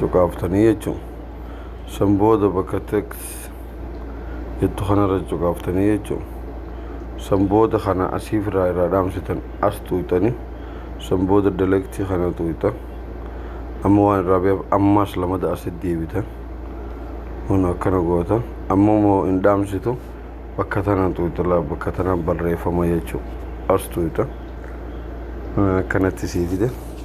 cuqaaftanii jechuun san booda bakka text jettu kanarra cuqaaftanii jechuun san booda kana asiif irraa irraa dhaamsitan as tuuxanii san booda dalektii kana tuuxan amma waan irraa beef ammaas lamada asi deebitan kun akkana gootan amma moo hin dhaamsitu bakka tanaan tuuxala bakka tanaan barreeffama jechuu as tuuxan akkanatti sii fide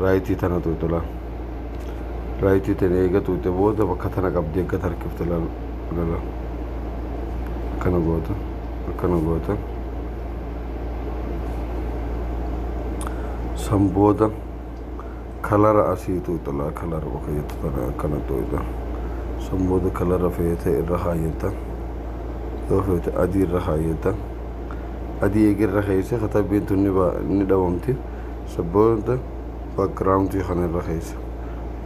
raayitii tana tuuxu laal raayitii tana eega tuuxe booda bakka tana qabdi eegga tarkifte laal lala akkana goota akkana goota san booda kalara asii tuuxu laal kalara bakka jettu tana akkana tuuxa san booda kalara feete irra kaayyata yoo feete adii irra kaayyata adii eega irra keeyse katabbiin tun ni dhabamti isa booda backgroundii kana irra keessa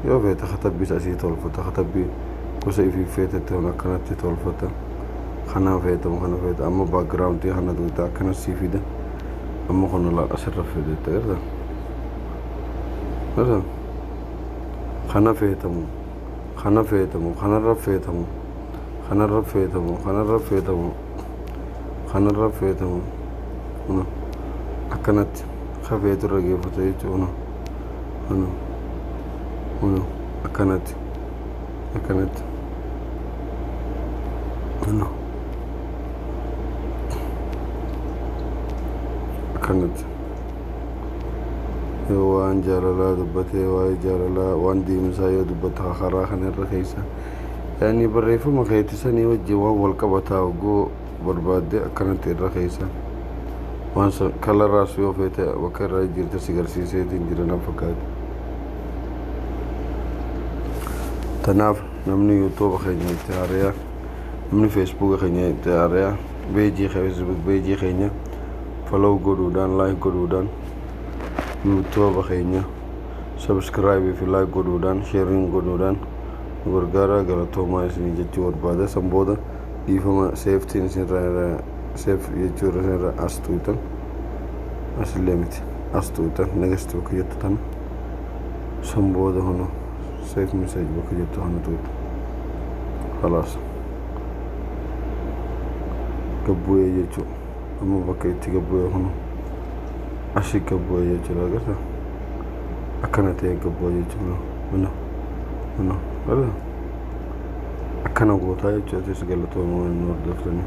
yoo feete katabbiis asii tolfata katabbii gosa ifiif feetetti kun akkanatti tolfata kana feetamu kana feeta amma backgroundii kana tuuta akkana sii fida amma kun laal asirra fidetta irra irra kana feetamu kana feetamu kanarra feetamu kanarra feetamu kanarra feetamu kanarra feete kun kun akkanatti ka feetu irra geeffata jechuudha kun kun akkanatti akkanatti kun akkanatti yoo waan jaalalaa dubbatee waa'ee jaalalaa waan deemsaa yoo dubbatte karaa kana irra keessa yani barreeffama keeti sanii wajjin waan wal qabataa hogguu barbaadde akkanatti irra keessa waan san kalaraas yoo feete bakka irra jirte si garsiiseetiin jira na fakkaate tanaaf namni yuutuuba keenya itti haariyaa namni feesbuuka keenya itti haariyaa beejii feesbuuk beejii keenya falaw godhuudhaan laayik godhuudhaan yuutuuba keenya subscribe fi like godhuudhaan sharing godhuudhaan nu gargaaraa galatoomaa isinii jechuu barbaada san booda dhiifama seeftiin isinirraa irra seef jechuu irra isinirra as tuutan asillee miti as tuutan next bakka jettu tana san booda hunu seef message bakka jettu hana tuutan خلاص gabbu'ee jechuudha amma bakka itti gabbu'ee kun ashi gabbu'ee jechuudha agarta akkana ta'ee gabbu'ee jechuudha mana mana akkana gootaa jechuudha galatooma waan nu hordoftanii.